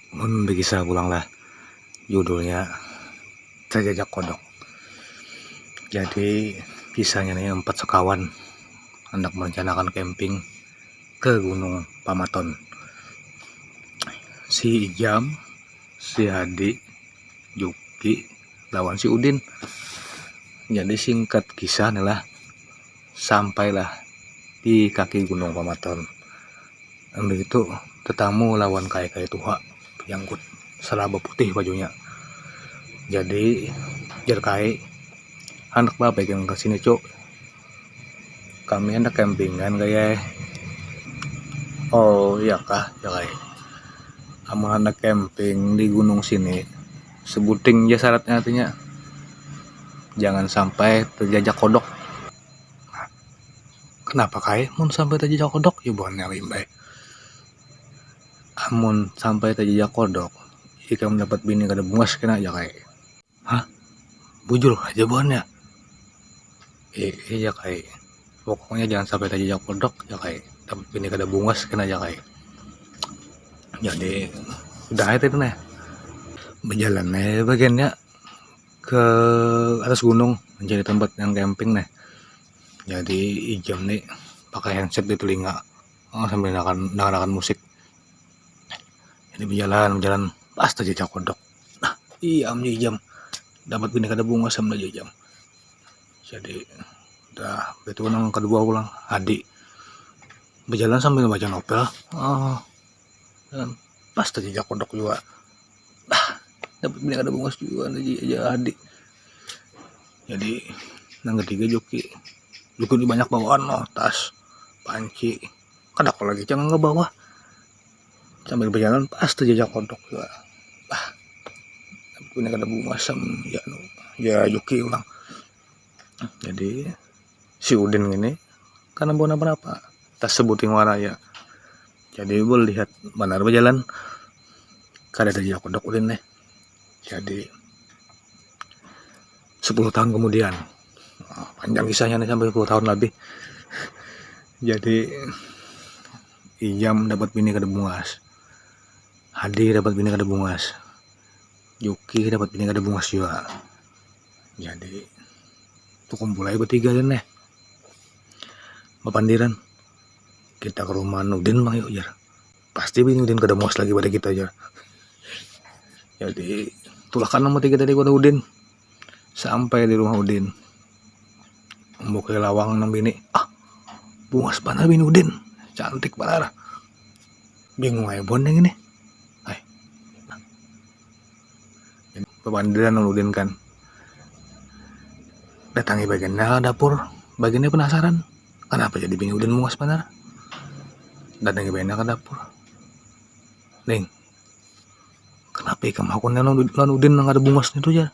Mun bekisah pulang lah judulnya Cajajak Kodok. Jadi kisahnya nih empat sekawan hendak merencanakan camping ke Gunung Pamaton. Si Ijam, si Hadi, Juki, lawan si Udin. Jadi singkat kisah nih lah. Sampailah di kaki Gunung Pamaton. Imbah itu tetamu lawan kaya-kaya tuha bajanggut salaba putih bajunya. Jadi, jar kai, handak baapai ikam ka sini, Cuk? Kami handak kempingan gaya eh. Oh, iyakah, jar ai. Amun handak kemping di gunung sini. sebuting ja syaratnya artinya jangan sampai terjajak kodok kenapa kai mun sampai terjajak kodok ya buhannya limbai amun sampai terjajak kodok ikam dapat bini kada bungas kena aja kai hah bujur haja buhannya. eh eh jak ai pokoknya jangan sampai terjejak kodok jak ai tapi ini kada bungas kena jak ai jadi udah aja tadi nah berjalan nah bagiannya ke atas gunung mencari tempat yang camping nah jadi ijam nih pakai handset di telinga oh, sambil dengarkan, dengarkan musik ini berjalan berjalan pas terjejak kodok nah iya ijam dapat bini kada bungas sama jam jadi udah itu nang kedua ulang adik berjalan sambil baca novel oh, dan pas terjejak kodok juga ah, dapat banyak ada bungas juga lagi aja adik jadi nang ketiga joki joki ini banyak bawaan no tas panci kada kok lagi jangan ngebawa sambil berjalan pas terjejak kodok juga ah punya kada bunga sem ya no ya Yuki orang jadi si Udin ini karena bukan apa-apa tas sebuting waraya jadi gue lihat benar berjalan kada terjejak kodok Udin nih jadi 10 tahun kemudian ah, panjang kisahnya nih sampai 10 tahun lebih jadi Ijam dapat bini kada bungas Hadi dapat bini kada bungas Juki dapat bini kada bungas jua jadi tukumpul aja batiga jar neh bapandiran kita ke rumah Nurdin bang yuk jar pasti bini Nurdin kada bungas lagi pada kita jar jadi tulak ka nang batiga tadi ke Nurdin Sampai di rumah Udin. Membuka lawang nang bini. Ah, bungas banar bini Udin. Cantik banar. Bingung aja bon yang ini. Ay. Pemandiran nang Udin kan. Datangi bagian dapur. Bagiannya penasaran. Kenapa jadi bini Udin bungas banar? Datangi bagiannya ke dapur. Ning, kenapa ikam hakun lawan udin nang kada bungas itu jar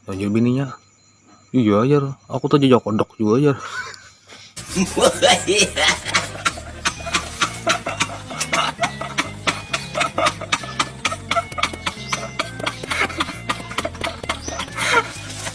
ujar bininya iya jar aku tajajak kodok juga jar